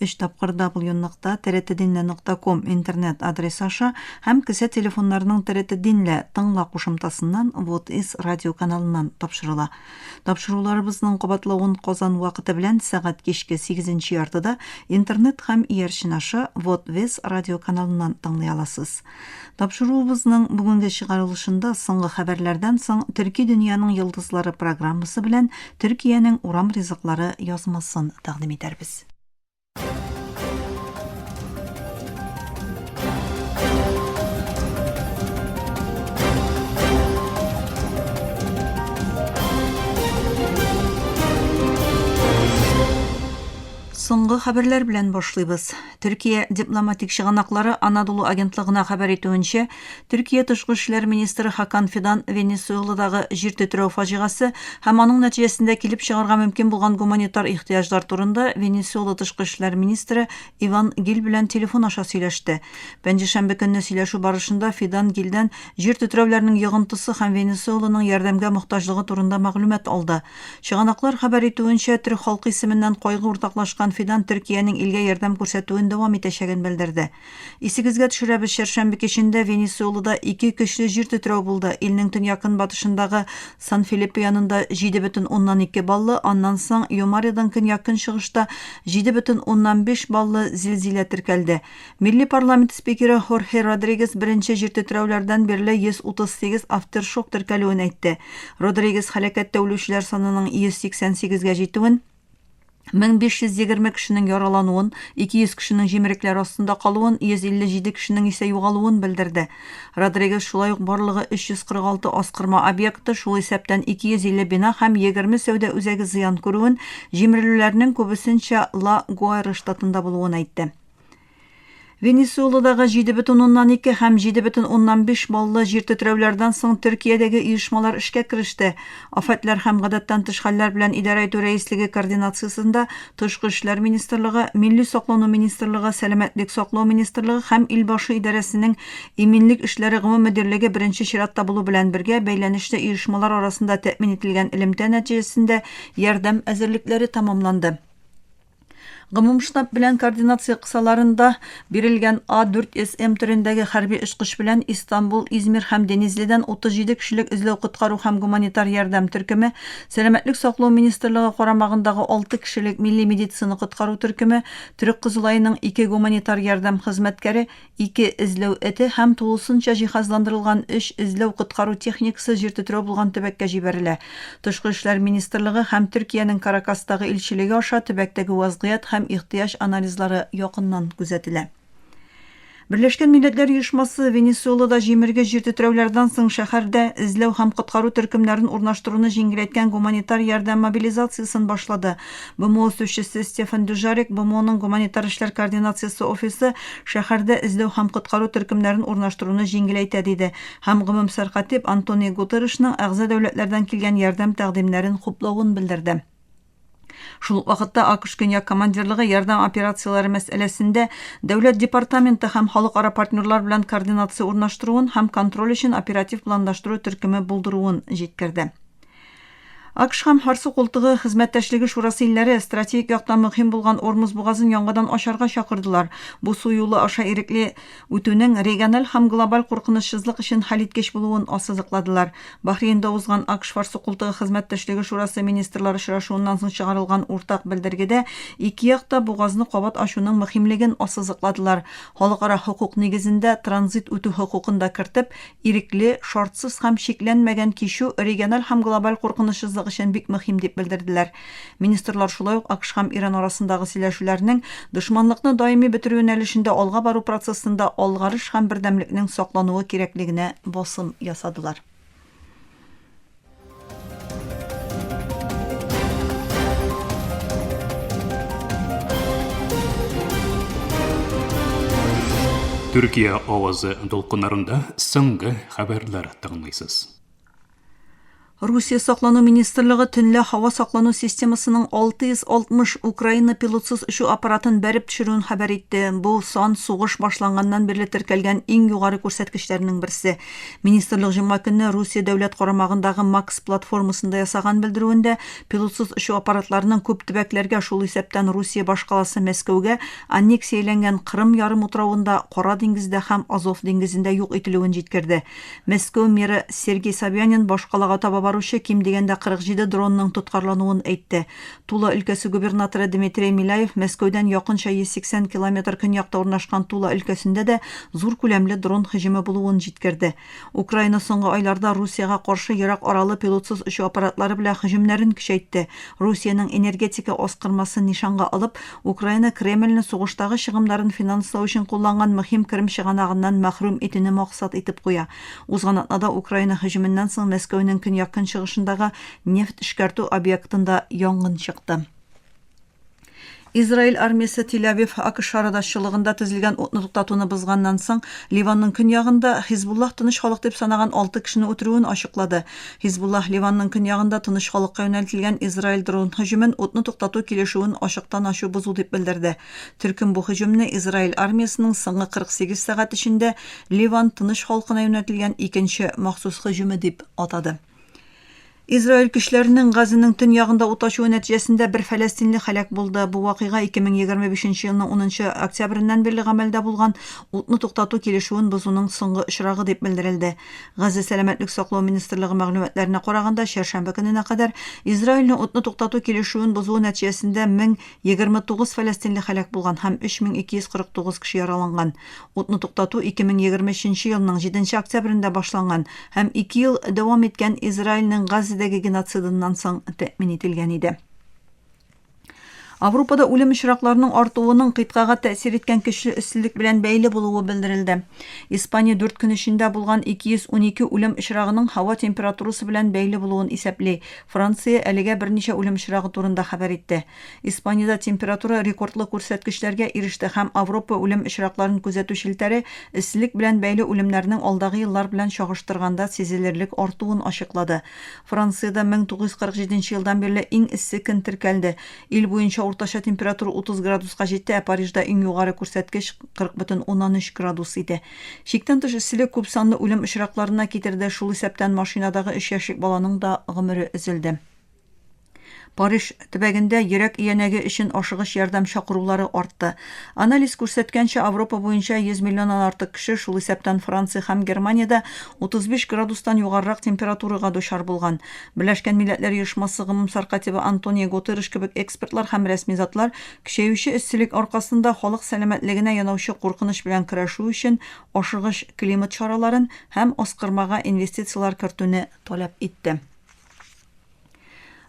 Өч тапкыр дабл ю нокта трт динлә нокта ком интернет адресы аша һәм кесә телефоннарының трт динлә тыңла кушымтасыннан вот из радио каналыннан тапшырыла. Тапшыруларыбызның кабатлавын Казан вакыты белән сәгать кичке сигезенче яртыда интернет һәм иярчен аша вот вез радио каналыннан тыңлый аласыз. Тапшыруыбызның бүгенге чыгарылышында Соңгы хәбәрләрдән соң Төрки дөньяның йолдызлары программасы белән Төркиянең урам ризыклары язмасын тәкъдим итәрбез. Соңгы хәбәрләр белән башлыйбыз. Төркия дипломатик чыганаклары Анадолу агентлыгына хәбәр итүенчә, Төркия тышкы эшләр министры Хакан Фидан Венесуэладагы җир тетрәү фаҗигасы һәм аның нәтиҗәсендә килеп чыгарга мөмкин булган гуманитар ихтыяҗлар турында Венесуэла тышкы эшләр министры Иван Гиль белән телефон аша сөйләште. Пәнҗешәмбе көнне сөйләшү барышында Фидан Гильдән җир тетрәүләрнең йогынтысы һәм Венесуэланың ярдәмгә мохтаҗлыгы турында мәгълүмат алды. Чыганаклар хәбәр итүенчә, төрек халкы исеменнән кайгы уртаклашкан Фидан Төркиянең илгә ярдәм күрсәтүен дәвам итәчәген белдерде. Исегезгә төшерәбез, чәршәмбе кичендә Венесуэлада ике көчле җир тетрәү булды, илнең төньяк-көнбатышындагы Сан-Филиппе янында 7,2 баллы, аннан соң Юмаредан көньяк-көнчыгышта 7,5 баллы зилзилә теркәлде. Милли парламент спикеры Хорхе Родригес беренче җир тетрәүләрдән бирле 138 автершок теркәлүен әйтте. Родригес һәлакәттә үлүчеләр санының 188 гә җитүен, 1520 кешенең яралануын, 200 кешенең җимерекләр астында калуын, 157 кешенең исә югалуын белдерде. Родригес шулай ук барлыгы 346 аскырма объекты, шул исәптән 250 бина һәм 20 сәүдә үзәге зыян күрүен, җимерелүләрнең күбесенчә Ла Гуайра штатында булуын әйтте. Венесуэладагы 7,2 һәм 7,5 баллы җир тетрәүләрдән соң Төркиядәге оешмалар эшкә кереште. Афәтләр һәм гадәттән тыш хәлләр белән идарә итү рәислеге координациясендә Тышкы эшләр министрлыгы, Милли саклану министрлыгы, Сәламәтлек саклау министрлыгы һәм Илбашы идарәсенең Иминлек эшләре гомум мөдирлеге беренче чиратта булу белән бергә бәйләнешле оешмалар арасында тәэмин ителгән элемтә нәтиҗәсендә ярдәм әзерлекләре тәмамланды. Гомум штаб белән координация кысаларында бирелгән А4СМ төрендәге хәрби очкыч белән Истанбул, Измир һәм Денизлидән 37 кешелек эзләү-коткару һәм гуманитар ярдәм төркеме, Сәламәтлек саклау министрлыгы карамагындагы 6 кешелек милли медицина коткару төркеме, Төрек Кызылаеның ике гуманитар ярдәм хезмәткәре, Ике эзләү эте һәм тулысынча җиһазландырылган өч эзләү-коткару техникасы җир тетрәү булган төбәккә җибәрелә. Тышкы эшләр министрлыгы һәм Төркиянең Каракастагы илчелеге аша төбәктәге вазгыять һәм ихтыяҗ анализлары якыннан күзәтелә. Берләшкән Милләтләр Оешмасы Венесуэлада җимерге җир тетрәүләрдән соң шәһәрдә эзләү һәм коткару төркемнәрен урнаштыруны җиңеләйткән гуманитар ярдәм мобилизациясен башлады. БМО үсүчесе Стефан Дюжарик БМОның гуманитар эшләр координациясе офисы шәһәрдә эзләү һәм коткару төркемнәрен урнаштыруны җиңеләйтә, диде һәм гомумсәркать дип Антонио Гутерришның әгъза дәүләтләрдән килгән ярдәм тәкъдимнәрен хуплавын белдерде. Шул ук вакытта АКШ Көньяк командирлыгы ярдәм операцияләре мәсьәләсендә Дәүләт департаменты һәм халыкара партнерлар белән координация урнаштыруын һәм контроль өчен оператив планлаштыру төркеме булдыруын җиткерде. АКШ һәм Һарсу култыгы хезмәттәшлеге шурасы илләре стратегик яктан мөһим булган Ормуз бугазын яңадан ачарга чакырдылар, бу су юлы аша ирекле үтүнең региональ һәм глобаль куркынычсызлык өчен хәлиткеч булуын ассызыкладылар. Бахрейнда узган АКШ-Һарсу култыгы хезмәттәшлеге шурасы министрлар очрашуыннан соң чыгарылган уртак белдергедә ике як та бугазны кабат ачуның мөһимлеген ассызыкладылар, халыкара хокук нигезендә транзит үтү хокукын да кертеп, ирекле, шартсыз һәм чикләнмәгән кичү региональ һәм глобаль куркынычсызлык өчен бик мөһим, дип белдерделәр. Министрлар шулай ук АКШ һәм Иран арасындагы сөйләшүләрнең дошманлыкны даими бетерү юнәлешендә алга бару процессында алгарыш һәм бердәмлекнең саклануы кирәклегенә басым ясадылар. Төркия авазы дулкыннарында соңгы хәбәрләр тыңлыйсыз. Русия саклану министрлыгы төнлә һава саклану системасының 660 Украина пилотсыз очу аппаратын бәреп төшерүен хәбәр итте. Бу сан сугыш башланганнан бирле теркәлгән иң югары күрсәткечләрнең берсе. Министрлык җомга көнне Русия дәүләт карамагындагы Макс платформасында ясаган белдерүендә, пилотсыз очу аппаратларының күп төбәкләргә, шул исәптән Русия башкаласы Мәскәүгә, аннексияләнгән Кырым ярымутравында, Кара диңгездә һәм Азов диңгезендә юк ителүен җиткерде. Мәскәү мэры Сергей Собянин башкалага таба баручы ким дигәндә 47 дронның тоткарлануын әйтте. Тула өлкәсе губернаторы Дмитрей Миляев Мәскәүдән якынча 180 километр көньякта урнашкан Тула өлкәсендә дә зур күләмле дрон һөҗүме булуын җиткерде. Украина соңгы айларда Русиягә каршы ерак аралы пилотсыз очу аппаратлары белән һөҗүмнәрен көчәйтте, Русиянең энергетика аскырмасын нишанга алып, Украина Кремльне сугыштагы чыгымнарын финанслау өчен кулланган мөһим керем чыганагыннан мәхрүм итүне максат итеп куя. Узган атнада Украина һөҗүменнән соң Мәскәүнең көньяк-көнчыгышындагы Нефть эшкәртү объектында янгын чыкты. Израиль армиясе Тель-Авив АКШ арада-шчылыгында төзелгән утны туктатуны бозганнан соң, Ливанның көньягында Хизбуллах тыныч халык дип санаган алты кешене үтерүен ачыклады. Хизбуллах Ливанның көньягында тыныч халыкка юнәлтелгән Израиль дрон һөҗүмен утны туктату килешүен ачыктан-ачу бозу дип белдерде. Төркем бу һөҗүмне Израиль армиясенең соңгы 48 сәгать эчендә Ливан тыныч халкына юнәтелгән икенче махсус һөҗүме дип атады. Израиль көчләренең Газының төньягында ут ачуы нәтиҗәсендә бер фәләстинле һәлак булды. Бу вакыйга 2025 елның 10 октябреннән бирле гамәлдә булган утны туктату килешүен бозуның соңгы очрагы дип белдерелде. Газа сәламәтлек саклау министрлыгы мәгълүматларына караганда, чәршәмбе көненә кадәр Израильнең утны туктату килешүен бозуы нәтиҗәсендә 1029 фәләстинле һәлак булган һәм 3249 кеше яраланган. Утны туктату 2023 нче елның 7 нче октябрендә башланган һәм ике ел дәвам иткән Израильнең Газзадәге геноцидыннан соң тәэмин ителгән иде. Аврупада үлем очракларының артуының кыйтгага тәэсир иткән көчле өстелек белән бәйле булуы белдерелде. Испания дүрт көн эчендә булган 212 үлем очрагының һава температурасы белән бәйле булуын исәпли. Франция әлегә берничә үлем очрагы турында хәбәр итте. Испаниядә температура рекордлы күрсәткечләргә иреште һәм Авропа үлем очракларын күзәтү челтәре эсселек белән бәйле үлемнәрнең алдагы еллар белән чагыштырганда сизелерлек артуын ачыклады. Франциядә 1947 елдан бирле иң эссе көн теркәлде. Ил буенча уртача температура 30 градуска җитте, ә Парижда иң югары күрсәткеч 40,3 градус иде. Чиктән тыш эсселек күпсанлы үлем очракларына китерде, шул исәптән машинадагы өч яшьлек баланың да гомере өзелде. Париж төбәгендә йөрәк иянәге өчен ашыгыч ярдәм чакырулары артты. Анализ күрсәткәнчә, Авропа буенча 100 миллионнан артык кеше, шул исәптән Франция һәм Германиядә, 35 градустан югарырак температурага дучар булган. Берләшкән Милләтләр Оешмасы гомумсаркатибы Антонио Гутерреш кебек экспертлар һәм рәсми затлар көчәюче эсселек аркасында халык сәламәтлегенә янаучы куркыныч белән көрәшү өчен ашыгыч климат чараларын һәм аскырмага инвестицияләр кертүне таләп итте.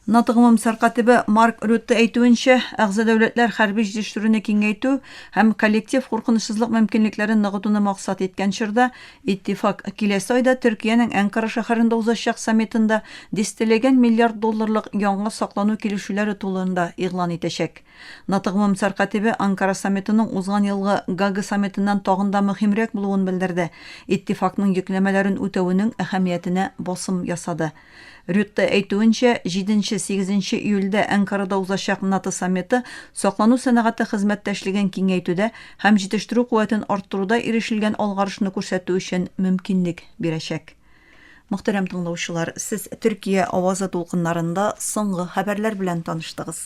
НАТО гомумсар катибы Марк Рютте әйтүенчә, әгъза дәүләтләр хәрби җитештерүне киңәйтү һәм коллектив куркынычсызлык мөмкинлекләрен ныгытуны максат иткән чорда, иттифак киләсе айда Төркиянең Әнкара шәһәрендә узачак саммитында дистәләгән миллиард долларлык яңа саклану килешүләре тулында игълан итәчәк. НАТО гомумсар катибе Анкара саммитының узган елгы Гага саммитыннан тагын да мөһимрәк булуын белдерде, иттифакның йөкләмәләрен үтәвенең әһәмиятенә басым ясады. Рютте әйтүенчә, җиденче, сигезенче июльдә Әнкарада узачак НАТО саммиты саклану сәнәгате хезмәттәшлеген киңәйтүдә һәм җитештерү куәтен арттыруда ирешелгән алгарышны күрсәтү өчен мөмкинлек бирәчәк. Мөхтәрәм тыңлаучылар, сез Төркия авазы дулкыннарында соңгы хәбәрләр белән таныштыгыз.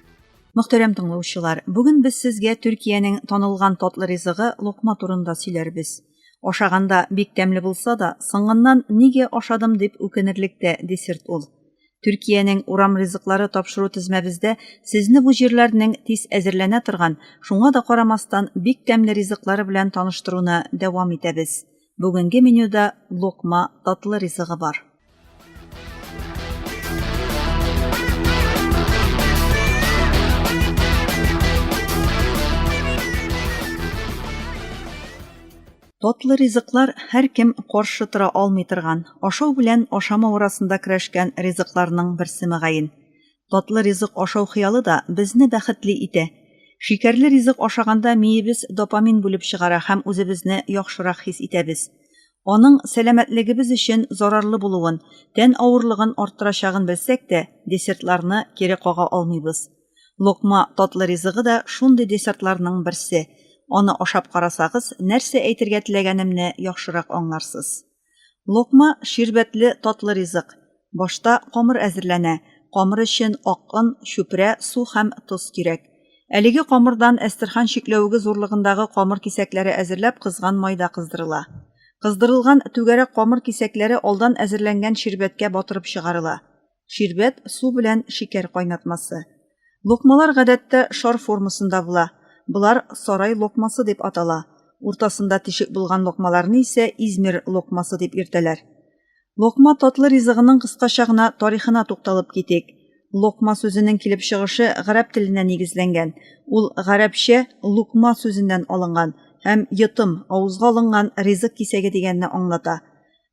Мөхтәрәм тыңлаучылар, бүген без сезгә Төркиянең танылган татлы ризыгы локма турында сөйләрбез. Ашаганда бик тәмле булса да, соңыннан нигә ашадым дип үкенерлек тә десерт ул. Төркиянең урам ризыклары тапшыру тезмәбездә сезне бу җирләрнең тиз әзерләнә торган, шуңа да карамастан, бик тәмле ризыклары белән таныштыруны дәвам итәбез. Бүгенге менюда локма татлы ризыгы бар. Татлы ризыклар һәркем каршы тора алмый торган, ашау белән ашамау арасында көрәшкән ризыкларның берсе мөгаен. Татлы ризык ашау хыялы да безне бәхетле итә. Шикәрле ризык ашаганда миебез допамин бүлеп чыгара һәм үзебезне яхшырак хис итәбез. Аның сәламәтлегебез өчен зарарлы булуын, тән авырлыгын арттырачагын белсәк тә, десертларны кире кага алмыйбыз. Локма татлы ризыгы да шундый десертларның берсе. Аны ашап карасагыз, нәрсә әйтергә теләгәнемне яхшырак аңларсыз. Локма ширбәтле татлы ризык. Башта камыр әзерләнә. Камыр өчен ак он, чүпрә, су һәм тоз кирәк. Әлеге камырдан әстерхан чикләвеге зурлыгындагы камыр кисәкләре әзерләп кызган майда кыздырыла. Кыздырылган түгәрәк камыр кисәкләре алдан әзерләнгән ширбәткә батырып чыгарыла. Ширбәт су белән шикәр кайнатмасы. Локмалар гадәттә шар формасында була. Болар сарай локмасы дип атала. Уртасында тишек булган локмаларны исә Измир локмасы дип йөртәләр. Локма татлы ризыгының кыскача гына тарихына тукталып китик. Локма сүзенең килеп чыгышы гарәп теленә нигезләнгән. Ул гарәпчә лукма сүзеннән алынган һәм йотым, авызга алынган ризык кисәге дигәнне аңлата.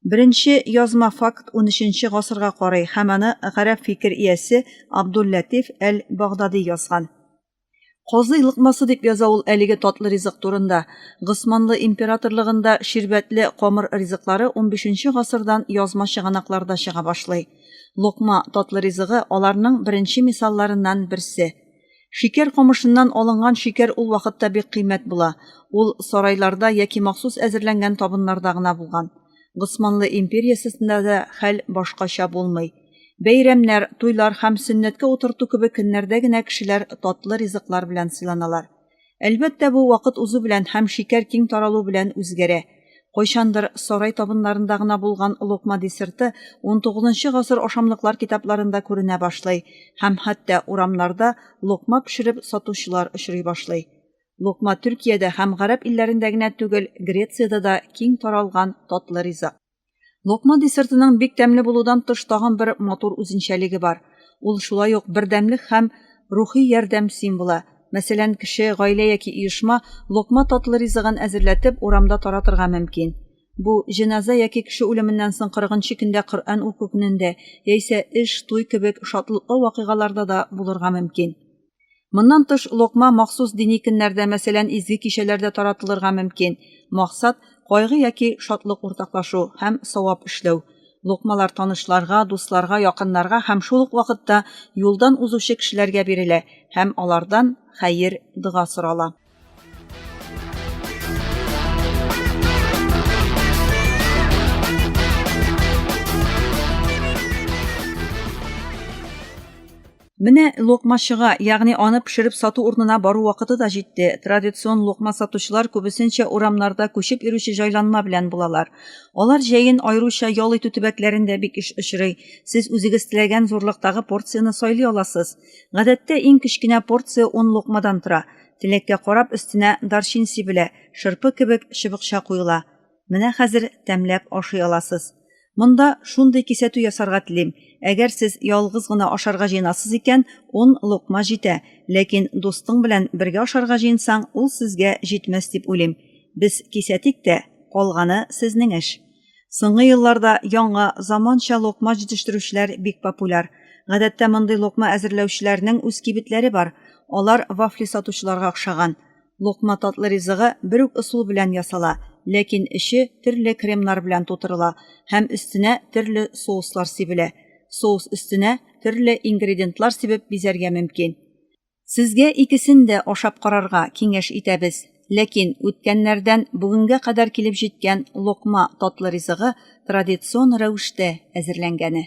Беренче язма факт унөченче гасырга карый һәм аны гарәп фикер иясе Абдул-Ләтиф әл-Багдади язган. Казый лыкмасы дип яза ул әлеге татлы ризык турында. Госманлы императорлыгында ширбәтле камыр ризыклары унбишенче гасырдан язма чыганакларда чыга башлый. Локма, татлы ризыгы, аларның беренче мисалларыннан берсе. Шикәр камышыннан алынган шикәр ул вакытта бик кыйммәт була, ул сарайларда яки махсус әзерләнгән табыннарда гына булган. Госманлы империясесында да хәл башкача булмый. Бәйрәмнәр, туйлар һәм сөннәткә утырту кебек көннәрдә генә кешеләр татлы ризыклар белән сыйланалар. Әлбәттә, бу вакыт узу белән һәм шикәр киң таралу белән үзгәрә. Кайчандыр сарай табыннарында гына булган локма десерты 19 гасыр ашамлыклар китапларында күренә башлый һәм хәтта урамнарда локма пешереп сатучылар очрый башлый. Локма Төркиядә һәм гарәп илләрендә генә түгел, Грециядә дә киң таралган татлы ризык. Локма десертының бик тәмле булудан тыш тагын бер матур үзенчәлеге бар. Ул шулай ук бердәмлек һәм рухи ярдәм символы. Мәсәлән, кеше, гаилә яки оешма локма татлы ризыгын әзерләтеп, урамда таратырга мөмкин. Бу, җеназа яки кеше үлеменнән соң 40 нчы көндә Коръән уку көнендә, яисә эш, туй кебек шатлыклы вакыйгаларда да булырга мөмкин. Моннан тыш, локма махсус дини көннәрдә, мәсәлән, изге кичәләрдә таратылырга мөмкин. Максат, кайгы яки шатлык уртаклашу һәм савап эшләү. Локмалар танышларга, дусларга, якыннарга һәм шул ук вакытта юлдан узучы кешеләргә бирелә һәм алардан хәер, дога сорала. Менә локмачыга, ягъни аны пешереп сату урынына бару вакыты да җитте. Традицион локма сатучылар күбесенчә урамнарда күчеп йөрүче җайланма белән булалар. Алар җәен аеруча ял итү төбәкләрендә бик еш очрый. Сез үзегез теләгән зурлыктагы порцияне сайлый аласыз. Гадәттә иң кечкенә порция ун лукмадан тора. Теләккә карап өстенә дарчин сибелә, шырпы кебек чыбыкча куела. Менә хәзер тәмләп ашый аласыз. Монда шундый кисәтү ясарга телим, әгәр сез ялгыз гына ашарга җыенасыз икән, ун лукма җитә, ләкин дустың белән бергә ашарга җыенсаң, ул сезгә җитмәс дип уйлыйм. Без кисәтик тә, калганы сезнең эш. Соңгы елларда яңа, заманча локма җитештерүчеләр бик популяр. Гадәттә мондый локма әзерләүчеләрнең үз кибетләре бар. Алар вафли сатучыларга охшаган. Локма татлы ризыгы бер үк ысул белән ясала, ләкин эче төрле кремнар белән тутырыла һәм өстенә төрле соуслар сибелә. Соус өстенә төрле ингредиентлар сибеп бизәргә мөмкин. Сезгә икесен дә ашап карарга киңәш итәбез. Ләкин үткәннәрдән бүгенгә кадәр килеп җиткән локма татлы ризыгы традицион рәвештә әзерләнгәне.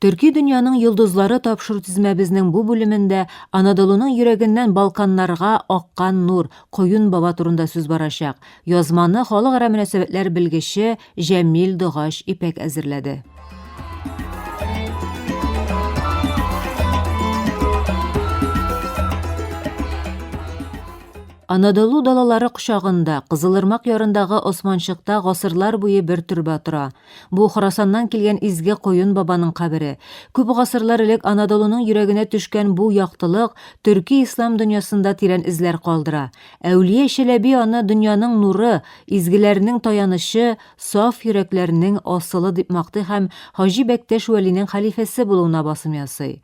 Төрки дөньяның йолдызлары тапшыру тизмәбезнең бу бүлемендә Анадолуның йөрәгеннән Балканнарга аккан нур Коюн баба турында сүз барачак. Язманы халыкара мөнәсәбәтләр белгече Җәмил Догач ипәк әзерләде. Анадолу далалары кочагында, Кызылырмак ярындагы Османчыкта гасырлар буе бер төрбә тора. Бу Хорасаннан килгән изге Коен бабаның кабере. Күп гасырлар элек Анадолуның йөрәгенә төшкән бу яктылык төрки-ислам дөньясында тирән эзләр калдыра. Әүлия Чәләби аны дөньяның нуры, изгеләрнең таянычы, саф йөрәкләрнең асылы дип мактый һәм Хаҗи Бәктәш Вәлинең хәлифәсе булуына басым ясый.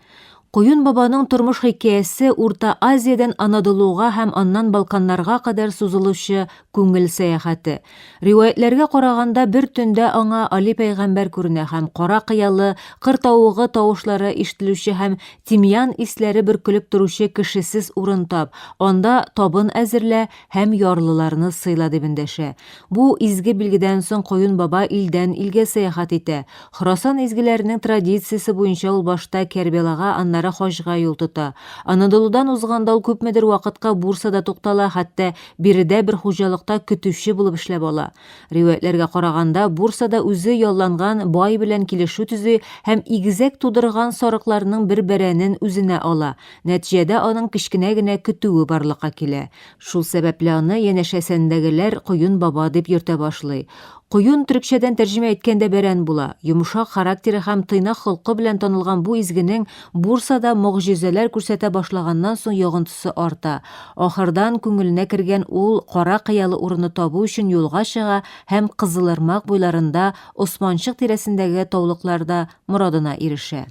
Куюн бабаның тормыш хикәясе Урта Азиядән Анадолуга һәм аннан Балканнарга кадәр сузылучы күңел сәяхәте, Риваятьләргә караганда, бер төндә аңа Али пәйгамбәр күренә һәм кара кыялы, кыр тавыгы тавышлары ишетелүче һәм тимьян исләре бөркелеп торучы кешесез урын тап, анда табын әзерлә һәм ярлыларны сыйла дип эндәшә. Бу изге билгедән соң Коюн баба илдән илгә сәяхәт итә. Хорасан изгеләренең традициясе буенча ул башта Кәрбәлага, аннары Хаҗга юл тота. Анадолудан узганда ул күпмедер вакытка Бурсада туктала, хәтта Биредә бер хуҗалыкта көтүче булып эшләп ала. Риваятьләргә караганда, Бурсада үзе ялланган бай белән килешү төзи һәм игезәк тудырган сарыкларның бер бәрәнен үзенә ала. Нәтиҗәдә аның кечкенә генә көтүе барлыкка килә. Шул сәбәпле аны янәшәсендәгеләр Коен баба дип йөртә башлый. Коен төрекчәдән тәрҗемә әйткәндә бәрән була. Йомшак характеры һәм тыйнак холкы белән танылган бу изгенең Бурсада могҗизәләр күрсәтә башлаганнан соң йогынтысы арта. Ахырдан күңеленә кергән ул кара кыялы урынны табу өчен юлга чыга һәм Кызылырмак буйларында, Османчык тирәсендәге таулыкларда, морадына ирешә.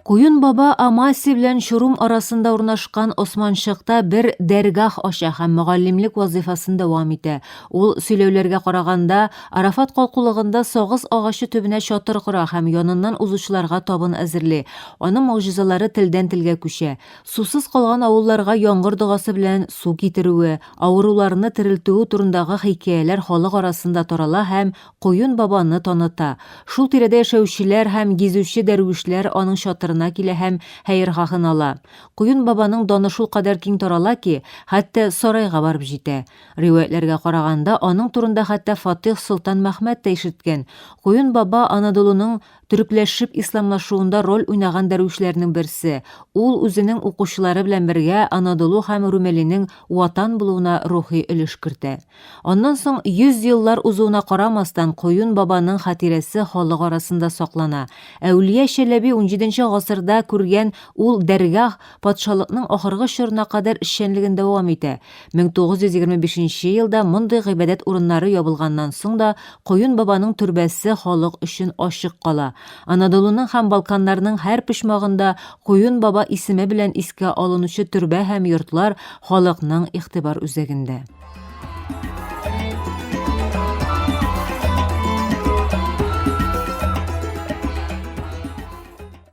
Куюн баба Амаси белән Чурум арасында урнашкан Османчыкта бер дәргах ача һәм мөгаллимлек вазыйфасын дәвам итә. Ул сөйләүләргә караганда, Арафат калкулыгында сагыз агачы төбенә чатыр кора һәм яныннан узучыларга табын әзерли. Аның могҗизалары телдән-телгә күчә. Сусыз калган авылларга яңгыр догасы белән су китерүе, авыруларны терелтүе турындагы хикәяләр халык арасында тарала һәм Коен бабаны таныта. Шул тирәдә яшәүчеләр һәм гизүче дәрвишләр аның чатырына килә һәм хәерхаһын ала. Коен бабаның даны шул кадәр киң тарала ки, хәтта сарайга барып җитә. Риваятьләргә караганда, аның турында хәтта Фатыйх Солтан Мәхмәт тә ишеткән. Коен баба Анадолуның Төрекләшеп исламлашуында роль уйнаган дәрвишләрнең берсе, ул үзенең укучылары белән бергә Анадолу һәм Румелинең ватан булуына рухи өлеш кертә. Аннан соң 100 еллар узуына карамастан, Коюн бабаның хатирәсе халык арасында саклана. Әүлия Чәләби унҗиденче гасырда күргән ул дәргах патшалыкның ахыргы чорына кадәр эшчәнлеген дәвам итә. 1925 елда мондый гыйбадәт урыннары ябылганнан соң да Коен бабаның төрбәсе халык өчен ачык кала. Анадолуның һәм Балканнарның һәр почмагында Коен баба исеме белән искә алынучы төрбә һәм йортлар халыкның игътибар үзәгендә.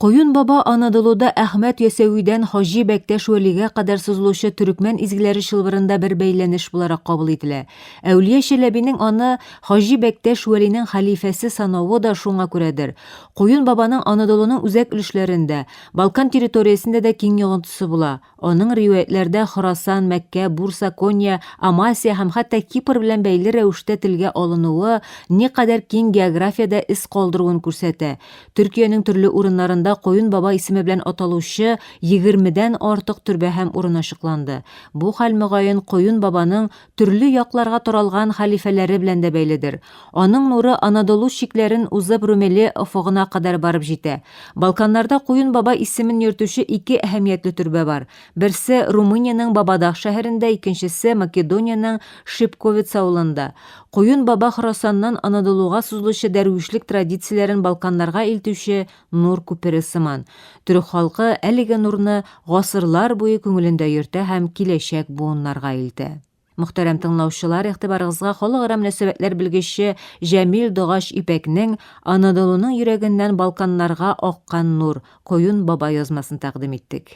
Коюн баба Анадолуда Әхмәт Ясәвидән Хаҗи Бәктәш Вәлигә кадәр сузылучы төрекмән изгеләре чылбырында бер бәйләнеш буларак кабул ителә. Әүлия Чәләбинең аны Хаҗи Бәктәш Вәлинең хәлифәсе санавы да шуңа күрәдер. Коюн бабаның Анадолуның үзәк өлешләрендә, Балкан территориясендә дә киң йогынтысы була. Аның риваятьләрдә Хорасан, Мәккә, Бурса, Конья, Амасия һәм хәтта Кипр белән бәйле рәвештә телгә алынуы никадәр киң географиядә эз калдыруын күрсәтә. Төркиянең төрле урыннарында Коен баба исеме белән аталучы егермедән артык төрбә һәм урын ачыкланды. Бу хәл, мөгаен, Коен бабаның төрле якларга таралган хәлифәләре белән дә бәйледер. Аның нуры Анадолу чикләрен узып Румели офыгына кадәр барып җитә. Балканнарда Куен Баба исемен йөртүче ике әһәмиятле төрбә бар. Берсе, Румыниянең Бабадах шәһәрендә, икенчесе, Македониянең Шипковец авылында. Куен Баба Хорасаннан Анадолуга сузылучы дәрвишлек традицияләрен Балканнарга илтүче нур күпере сыман, төрек халкы әлеге нурны гасырлар буе күңелендә йөртә һәм киләчәк буыннарга илтә. Мөхтәрәм тыңлаучылар, игътибарыгызга халыкара мөнәсәбәтләр белгече Җәмил Догач Ипәкнең Анадолуның йөрәгеннән Балканнарга аккан нур, Коюн баба язмасын тәкъдим иттек.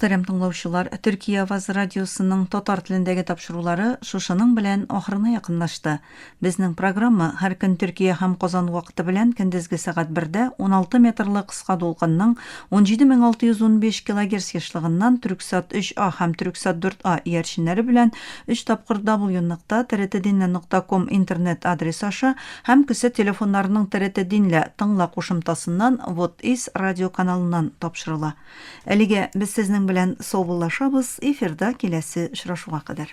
Мөхтәрәм тыңлаучылар, Төркия авазы радиосының татар телендәге тапшырулары шушының белән ахырына якынлашты. Безнең программа һәр көн Төркия һәм Казан вакыты белән көндезге сәгать бердә 16 метрлы кыска дулкынның 17615 килогерц ешлыгыннан Төрксат 3А һәм Төрксат 4А иярченнәре белән өч тапкыр W нокта трт динле нокта ком интернет адресы аша һәм кесә телефоннарының трт динле тыңла кушымтасыннан вот из радиоканалыннан тапшырыла. Әлегә без сезнең белән саубуллашабыз, эфирда киләсе очрашуга кадәр.